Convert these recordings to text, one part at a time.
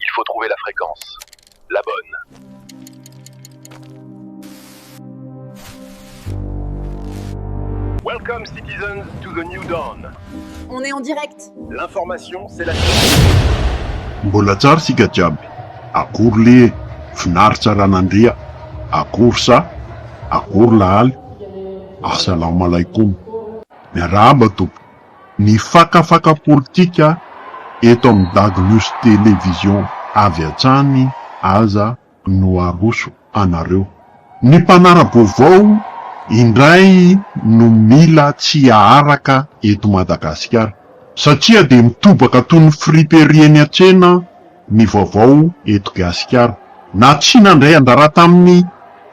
il faut trouver la fréquence la bonne. Welcome citizens to the new dawn. On est en direct. L'information c'est la Mbola tsara isika jiaby, akory le finaritra ranandria, akory sa, akory lahaly, assalamalaikum, miarahaba tompoko. Ny fakafaka politika eto amin'ny Dago News Télé Vision avy hatrany aza no aroso anareo. Ny mpanara-baovao indray no mila tsy aharaka eto Madagasikara satria dia mitobaka toy ny friperie eny an-tsena ny vaovao eto Gasikara. Na tsy nandray anjara tamin'ny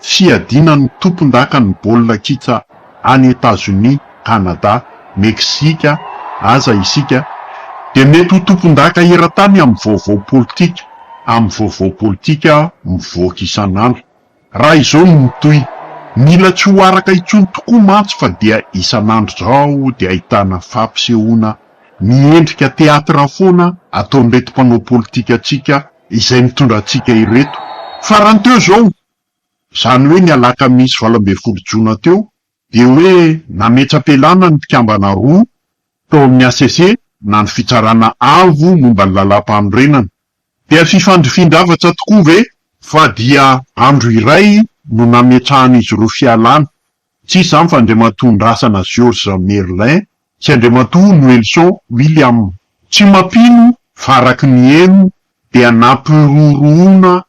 fiadiana ny tompondakan'ny baolina kitra any Etazonia, Kanada, Meksika aza isika dia mety ho tompondaka eran-tany amin'ny vaovao politika, amin'ny vaovao politika mivoaka isan'andro. Raha izao no mitohy, mila tsy ho araka intsony tokoa mantsy fa dia isan'andro izao dia ahitana fampisehoana miendrika teatra foana ataon'ireto mpanao politikantsika izay mitondra antsika ireto farany teo izao, izany hoe ny alakamisy valo ambin'ny folo jona teo, Dia hoe nametra-pialana ny mpikambana roa tao amin'ny hcc na ny Fitsarana Avo momba ny Lalàmpanorenana. Dia fifandrifin-javatra tokoa ve? Fa dia andro iray no nametrahan'izy ireo fialana. Tsy iza izany fa Andriamatoa Ndrasana Georges Merlin sy Andriamatoa Noelson William. Tsy mampino fa araka ny heno dia nampirorohona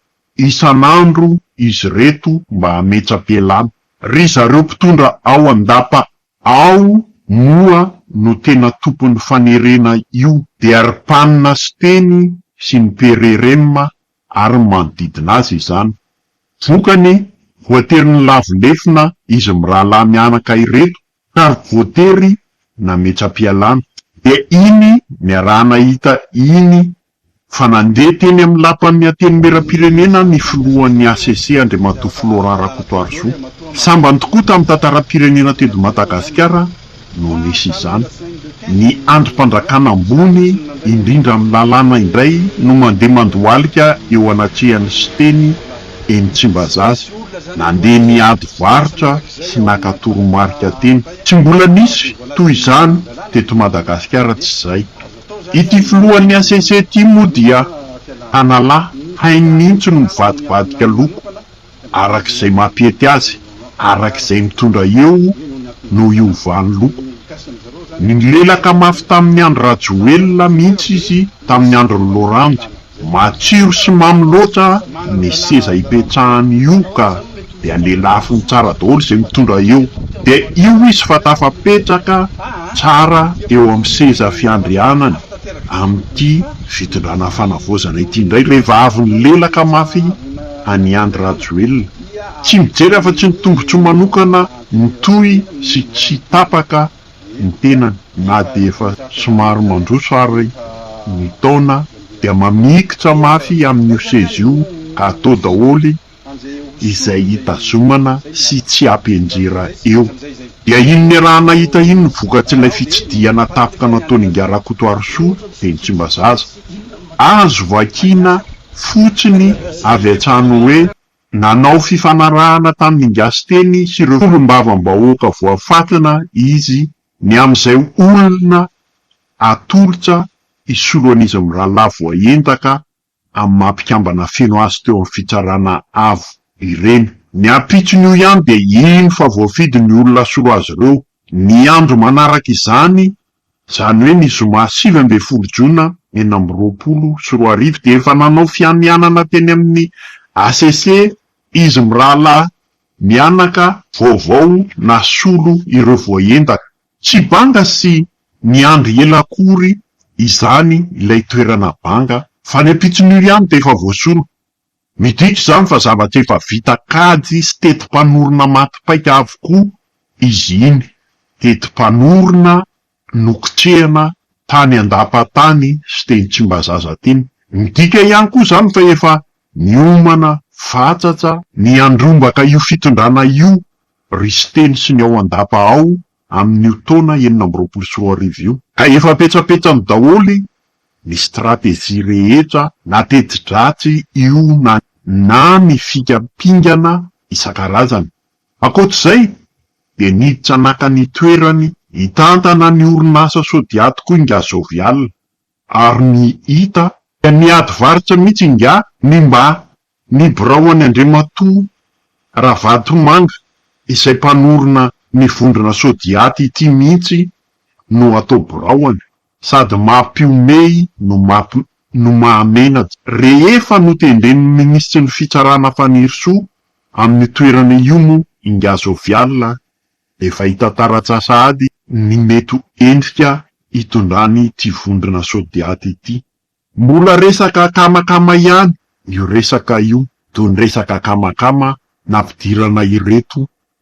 Isan'andro izy ireto mba hametsa-pialana. Ry zareo mpitondra ao an-dapa ao moa no tena tompon'ny fanerena io dia ry mpanina Siteny sy ny PRRM ary ny manodidina azy izany. Vokany, voatery nilavo lefona izy mirahalahy mianaka ireto ka voatery nametsa-pialana. Dia iny niaraha-nahita iny fa nandeha teny amin'ny Lapan'ny Antenimierampirenena ny filohan'ny hcc Andriamatoa Florent Rakotoarisoa. Sambany tokoa tamin'ny tantaram-pirenena teto Madagasikara no nisy izany. Ny andrim-pandrakana ambony indrindra amin'ny lalàna indray no mandeha mandohalika eo anatrehan'i Siteny eny Tsimbazaza. Nandeha niady varotra sy naka toromarika teny. Tsy mbola nisy toy izany teto Madagasikara tsy izay. Ity filohan'ny HCC ity moa dia tanalahy hainy mihitsy no mivadibadika loko araka izay mampety azy, araka izay mitondra eo no hiovany loko. Nilelaka mafy tamin'ny andry Rajoelina mihitsy izy tamin'ny andron'i Laurent Andry. Matsiro sy mamy loatra ny seza ipetrahany io ka dia lelafiny tsara daholo izay mitondra eo dia io izy fa tafapetraka tsara eo amin'ny seza fiandrianany amin'ity fitondrana fanavaozana ity indray ilay vaviny lelaka mafy an'i Andry Rajoelina tsy mijery afa-tsy ny tombotsoa manokana mitohy sy tsy tapaka ny tenany na dia efa somary mandroso ary ny taona dia mamikitra mafy amin'io seza io ka atao daholo izay hitazomana sy tsy hampianjera eo. Dia iny niarahana hita iny ny vokatr'ilay fitsidihana tapitra nataon'Ingahy Rakotoarisoa teny Tsimbazaza. Azo vakina fotsiny avy hatrany hoe. Nanao fifanarahana tamin'ny Gasiteny sy ireo solombavambahoaka voafantina izy ny amin'izay olona atolotra hisolo an'izy mirahalahy voaendaka amin'ny maha mpikambana feno azy teo amin'ny Fitsarana Avo ireny. Ny ampitson'io ihany dia hino fa voafidy ny olona hasolo azy ireo. Ny andro manaraka izany Izany hoe ny zoma sivy ambin'ny folo jona enina amby roapolo sy roa arivo dia efa nanao fianianana teny amin'ny hcc izy mirahalahy mianaka vaovao nasolo ireo voaendaka. Tsy banga sy niandry ela akory izany ilay toerana banga fa ny ampitson'io ihany dia efa voasolo. Midika izany fa zavatra efa vita kajy sy teti-panorona maty paika avokoa izy iny. Teti-panorona nokitrehana tany an-dapa tany sy teny Tsimbazaza teny. Midika ihany koa izany fa efa niomana fatratra, niandrombaka io fitondrana io, ry Siteny sy ny ao an-dapa ao amin'io taona enina amby roapolo sy roa arivo io. Ka efa petsapetsany daholo ny stratégie rehetra na teti-dratsy io na na ny fika pingana isan-karazany. Ankoatr'izay dia niditra naka ny toerany hitantana ny orinasa Sodiat koa i Ngazovial. Ary ny hita dia miady varitra mihitsy ingahy ny mba ny birao an'i Andriamatoa Ravatomanga izay mpanorina ny vondrona Sodiat ity mihitsy no atao biraoany sady mampiomehy no mahamenatra. Rehefa notendren'ny minisitry ny fitsarana Fanirisoa amin'ny toerana io moa ingahy Jovial Efa hita taratsy sahady ny mety ho endrika hitondran'ity vondrona Sodiat ity. Mbola resaka akamakama ihany io resaka io, toy ny resaka akamakama nampidirana ireto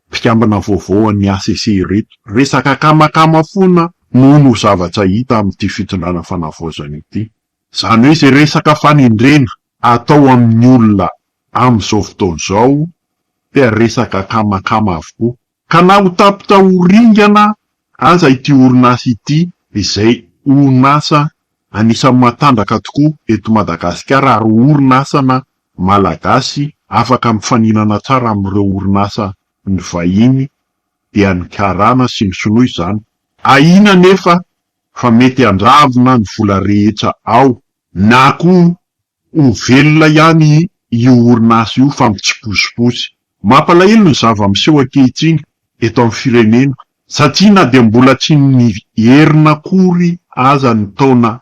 mpikambana vaovao an'ny hcc ireto. Resaka akamakama foana no no zavatra hita amin'ity fitondrana fanavaozana ity. Izany hoe izay resaka fanendrena atao amin'ny olona amin'izao fotoana izao dia resaka akamakama avokoa. Ka na ho tapitra ho ringana aza ity orinasa ity izay orinasa anisan'ny matanjaka tokoa eto Madagasikara ary orinasana malagasy afaka mifaninana tsara amin'ireo orinasa ny vahiny dia ny karana sy ny sinoa izany. Ahiana anefa fa mety handravona ny vola rehetra ao, na koa ho velona ihany io orinasa io fa mitsipozipozy. Mampalahelo ny zava-miseho ankehitriny eto amin'ny firenena satria na dia mbola tsy niverina akory aza ny taona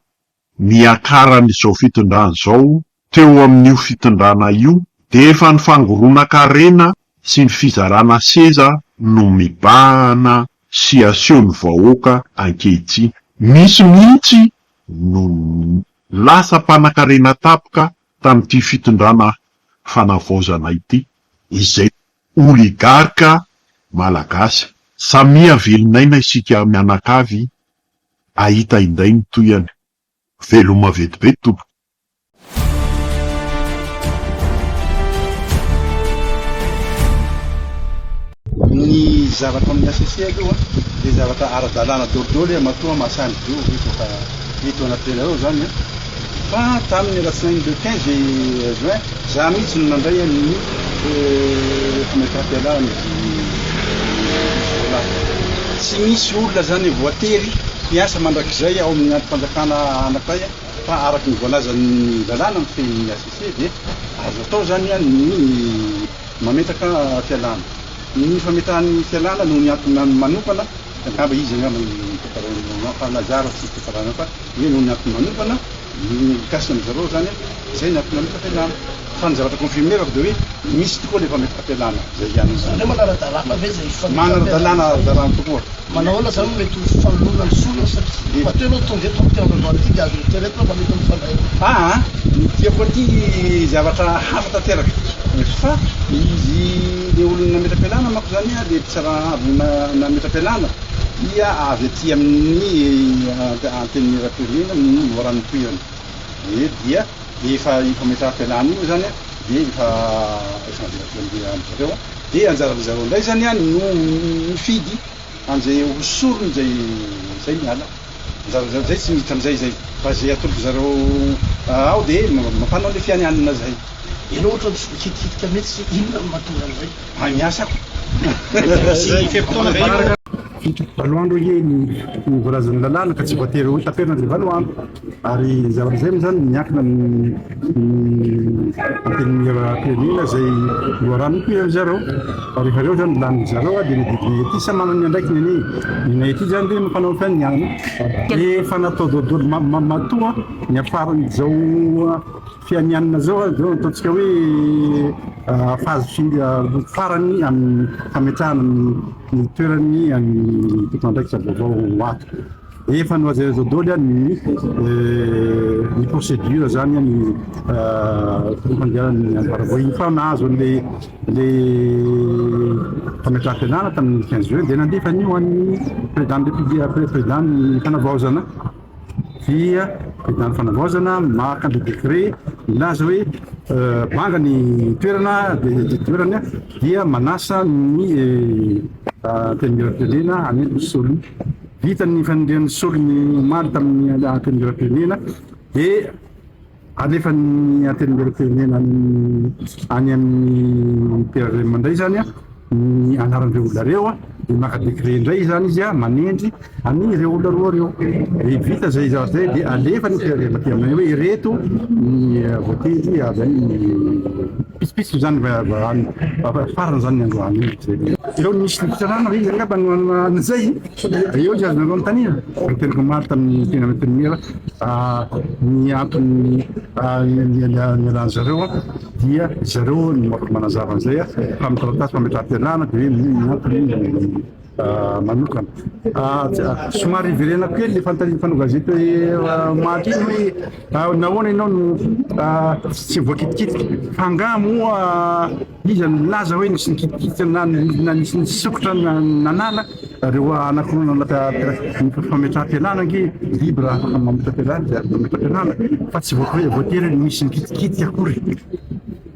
niakaran'izao fitondrana izao Teo amin'io fitondrana io dia efa ny fangoronan-karena sy ny fizarana seza no mibahana sy asehon'ny vahoaka ankehitriny. Misy mihitsy no lasa mpanankarena tapoka tamin'ity fitondrana fanavaozana ity izay oligarka malagasy. Samia velon'aina isika mianakavy hahita indray ny tohiny. Veloma vetivety tompoko. Ny zavatra amin'ny HCC aloha dia zavatra ara-dalàna daholo daholo hoe matoa mahasahy mijoro ve efa eto anatinareo izany an! Fa tamin'ny alatsinainy le quinze juin, za mihitsy no nandray an'i Maitre Pialard izy jiolahy. Tsy misy olona izany voatery hiasa mandrakizay ao amin'ny andrim-panjakana anankiray an! Fa araka ny voalazan'ny lalàna mifehy ny HCC dia azo atao izany ny mametraka fialana. Ny fametrahany fialana noho ny antony manokana, angamba izy angamba no mitantara fa na zara tsy tantarana fa hoe noho ny antony manokana, mikasika an-dry zareo izany hoe izay ny antony nametraka ilana. Fa ny zavatra confirmer-ko dia hoe misy tokoa ilay fampiakarana izay hiany izany. Hoe manara-dalàna ve izay fifandraisana? Manara-dalàna, ara-dalàna tokoa. Manahoana izany no mety ho fifanoroana ny sorona satria matoa ianao tonga eto amin'ity andro androany ity dia azo eritreretina fa mety ho mifandray. Aa, ny tiako aty zavatra hafa tanteraka fa izy ilay olona nametra-pialana manko izany dia mpitsara avy nametra-pialana dia avy aty amin'ny antenimierampirenena no raha ny tohirana dia dia Dia efa io fametraham-pialana io izany dia efa efa navela teo amin'ireo andro ireo an! Dia anjaran'ny zareo indray izany an no mifidy an'izay ho sorony izay izay miala. Anjaran'ny zareo izay tsy miditra amin'izay izay fa izay atolotry zareo ao dia mampanao ilay fianianana izay. Ianao ohatra tsy mikitikitika mihitsy inona no mahatonga an'izay? Mahay miasa aho. Zay firy taona zay io? Valo andro anie ny voalazan'ny lalàna ka tsy voatery ho taperina ilay valo andro. Ary izay amin'izay moa izany miankina amin'ny antenimieram-pirenena izay loharanoko eo amin'izareo. Fa rehefa avy eo izany lany zareo dia ny didinay ety samy manana ny andraikiny anie. Ny anay ety izany dia mpanao ny fiainana ihany. Efa natao daholo matoa niafaran'izao fianianana izao, izao ataontsika hoe phase farany amin'ny fametrahana ny toerany ny tompon'andraikitra vaovao ho ato. Efa nohazaiza doly an ny ny procedure zany an ny fampandehanan ny ambaravohiny fa nahazo an le le fametraham-pianarana tamin ny quinze juin dia nandefa an io an ny président ny republia président ny fanavaozana dia président ny fanavaozana maka ny décret milaza hoe banga ny toerana dia toerany an dia manasa ny antenimieram-pirenena hanentona ny solony Vita ny fanendrehana solony omaly tamin'ny Antenimierampirenena dia alefan'ny Antenimierampirenena any amin'ny PAVM indray izany ny anaran'ireo olona ireo dia maka décret indray izany izy manendry an'ireo olona roa ireo. Dia vita izay zavatra izay dia alefan'ny PAVM aty aminay hoe ireto ny voatendry avy any, pitsopitsony izany farany izany ny androany. Eo no misy ny fitsarana ve izy angamba no hanana izay? Dia eo izay azonareo anontaniana. Ny tenako omaly tamin'ny tena infirmiera, ny antony nialan'ny zareo dia ry zareo no afaka manazava an'izay fa amin'ny taratasy fametraham-pialana dia hoe ny antony manokana. Somary iverenako kely ilay fanontanian'ny mpanao gazety hoe omaly iny hoe nahoana ianao no tsy voakitikitika fa angaha moa Iza no nilaza hoe nisy nikitikitra na na nisy nisokitra na nanala? Ireo anankiroa nanala fametraham-pialana ange biby raha afaka mametra-pialana dia mametra-pialana fa tsy voatery voatery hoe misy nikitikitika akory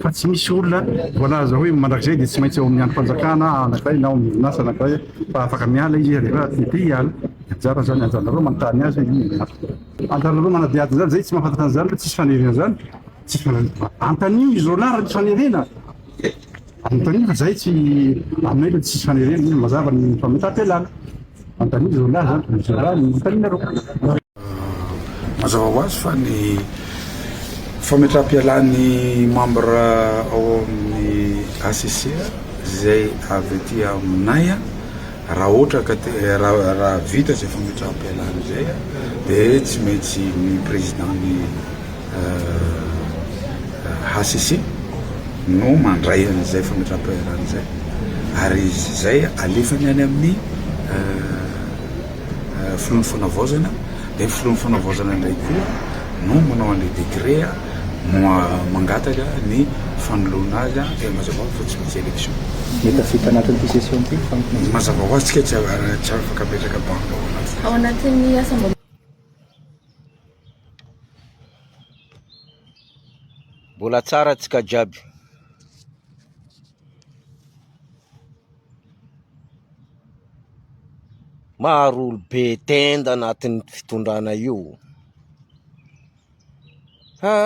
fa tsy misy olona voalaza hoe mandrakizay dia tsy maintsy ao amin'ny andrim-panjakana anankiray na ao amin'ny orinasa anankiray fa afaka miala izy rehefa tsy te hiala. Anjara izany, anjaranareo manontany azy hoe inona no marina. Anjaranareo manadihady an'izany, izahay tsy mahafantatra an'izany fa tsisy faniriana izany. Antanio i Zona raha misy fanerena. Antanio fa zay tsy aminay le tsisy fanerena io mazava ny fametam-pialana. Antanio Zona zany fa misy raha ny antaninareo. Mazava ho azy fa ny fametraham-pialan'ny membre ao amin'ny HCC izay avy aty aminay raha ohatra ka te raha vita izay fametraham-pialana izay dia tsy maintsy ny président-n'ny hcc no mandray an'izay fametraham-piaharana izay ary izy izay alefany any amin'ny filohan'ny fanavaozana dia ny filohan'ny fanavaozana indray koa no manao an'ilay décret mangataka ny fanoloana azy dia mazava fa tsy misy élection. Mety afaka anatin'ity session ity fampina. Mazava ho azy tsika tsy afaka apetraka banc ao anaty. Ao anatin'ny assemblée. Mbola tsara antsika jiaby. Maro olo be tenda anatin'ny fitondrana io. Ha!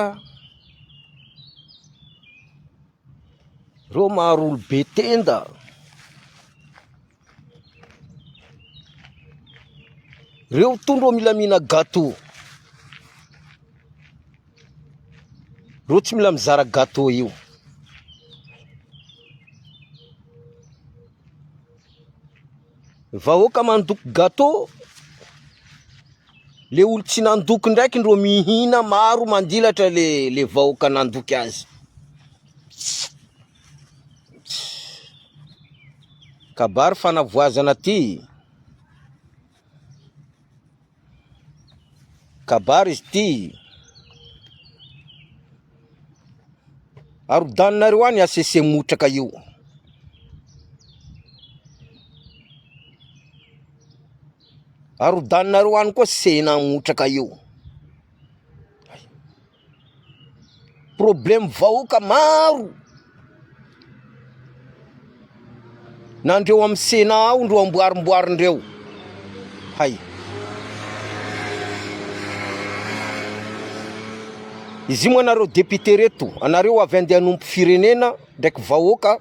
Reo maro olo be tenda. Reo tondro ô mila mihina gâteau. Reo tsy mila mizara gâteau io. Vahoaka mandoko gâteau. Le olo tsy nandoko ndraiky ndro mihina maro mandilatra le le vahoaka nandoky azy. Kabary fanavoazana ty. Kabary izy ty. Arodaninareo any HCC motraka io. Arodaninareo any koa sena motraka io. Problème vahoaka maro na ndreo am Sénat ao ndro amboarimboary ndreo hay. Izy io moa nareo député reto anareo avy andeha hanompo firenena ndraiky vahoaka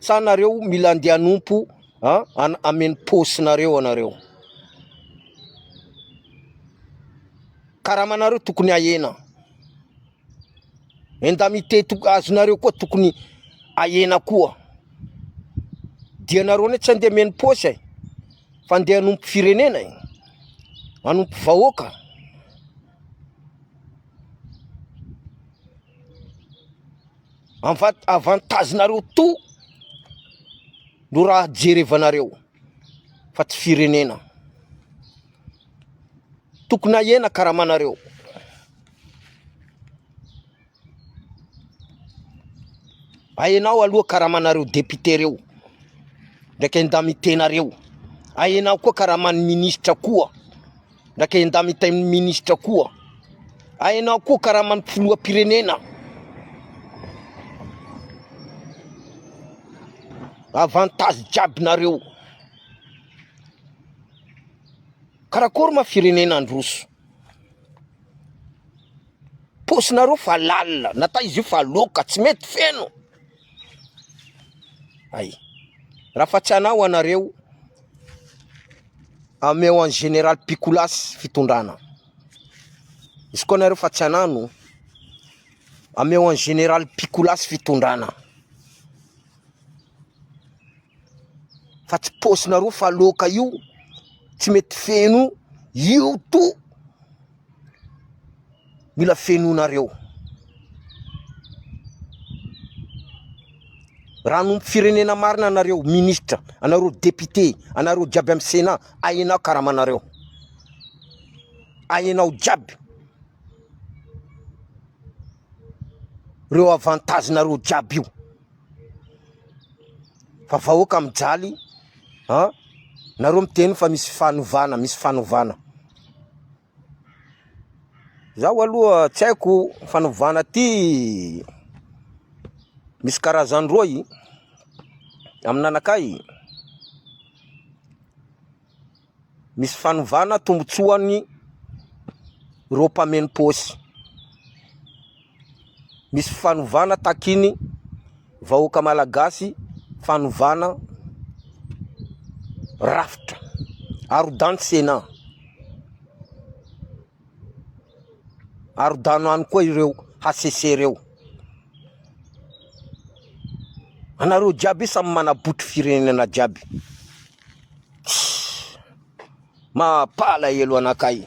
sa nareo mila andeha hanompo a an ameny pôsinareo anareo. Karamanareo tokony ahena. Indemnité azonareo koa tokony ahena koa. Dia nareo ne tsy andeha menopaosy eh. Fa andeha hanompo firenena eh. Hanompo vahoaka. Avantazinareo to no raha jerevanareo fa tsy firenena. Tokony hahena karamanareo. Ahenao aloha karamanareo député reo. Ndraika indamitena reo. Ahenao koa karaman'ny ministra koa. Ndraika indamitain'ny ministra koa. Ahenao koa karaman'ny filohampirenena. Avantage jiaby nareo. Karakory ma firenena androso. Paosinareo fa lalina, nata izy io fa loka, tsy mety feno. Hay. Raha fa tsy anao anareo, ameo an général Pikolasy fitondrana. Izy koa anareo fa tsy anano, ameo an général Pikolasy fitondrana. fa tsy paosinareo fa loaka io tsy mety feno io to mila fenonareo raha nompo firenena marina anareo ministra anareo depite anareo jiaby amy sena ahenao karamanareo ahenao jiaby reo avantagenareo jiaby io Fa vahoaka mijaly a nareo miteny fa misy fanovana, misy fanovana. Zaho aloha tsy haiko fanovana ty misy karazany roa i amin'anakay. Misy fanovana tombotsoany ireo mpameno paosy. Misy fanovana takiny vahoaka malagasy, fanovana rafitra. Arodan'i Sénat. Arodano any koa ireo HCC reo. Anareo jiaby samy manabotry firenena jiaby. Mampalahelo anakay.